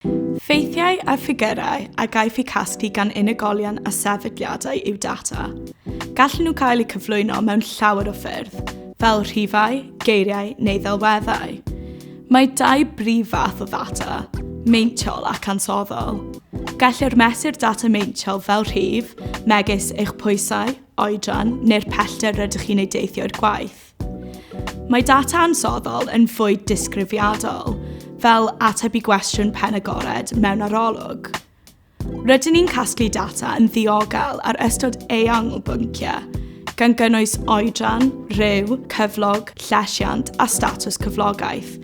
Ffeithiau a ffigyrau a gaiff eu casglu gan unigolion a sefydliadau yw data. Gallen nhw gael eu cyflwyno mewn llawer o ffyrdd, fel rhifau, geiriau neu ddelweddau. Mae dau brif fath o ddata, meintiol ac ansoddol. Gellir mesur data meintiol fel rhif, megis eich pwysau, oedran neu'r pellter rydych chi'n ei deithio i'r gwaith. Mae data ansoddol yn fwy disgrifiadol, fel ateb i gwestiwn pen agored mewn arolwg. Rydyn ni'n casglu data yn ddiogel ar ystod eang o bynciau, gan gynnwys oedran, rhyw, cyflog, llesiant a statws cyflogaeth,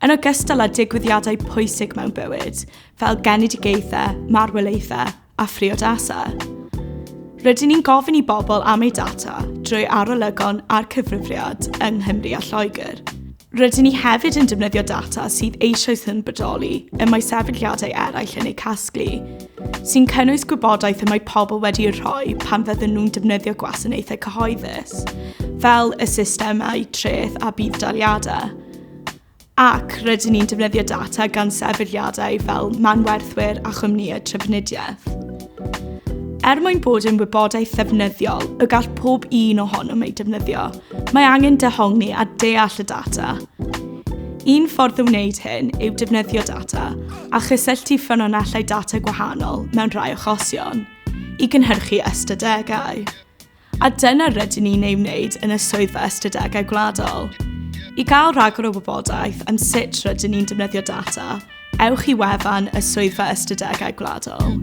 yn ogystal â digwyddiadau pwysig mewn bywyd, fel genedigaethau, marwolaethau a phriodasau. Rydyn ni'n gofyn i bobl am eu data drwy arolygon a'r cyfrifiad yng Nghymru a Lloegr. Rydyn ni hefyd yn defnyddio data sydd eisoes yn bodoli y mae sefydliadau eraill yn eu casglu, sy'n cynnwys gwybodaeth y mae pobl wedi ei rhoi pan fydden nhw'n defnyddio gwasanaethau cyhoeddus, fel y systemau treth a budd-daliadau. ac rydyn ni'n defnyddio data gan sefydliadau fel manwerthwyr a chwmnïau trafnidiaeth. Er mwyn bod yn wybodaeth ddefnyddiol y gall pob un ohonom ei defnyddio, mae angen dehongli a deall y data. Un ffordd o wneud hyn yw defnyddio data a chysylltu ffynonellau data gwahanol mewn rhai achosion i gynhyrchu ystadegau. A dyna rydyn ni'n ei wneud yn y Swyddfa Ystadegau Gwladol. I gael rhagor o wybodaeth am sut rydyn ni'n defnyddio data, ewch i wefan y Swyddfa Ystadegau Gwladol.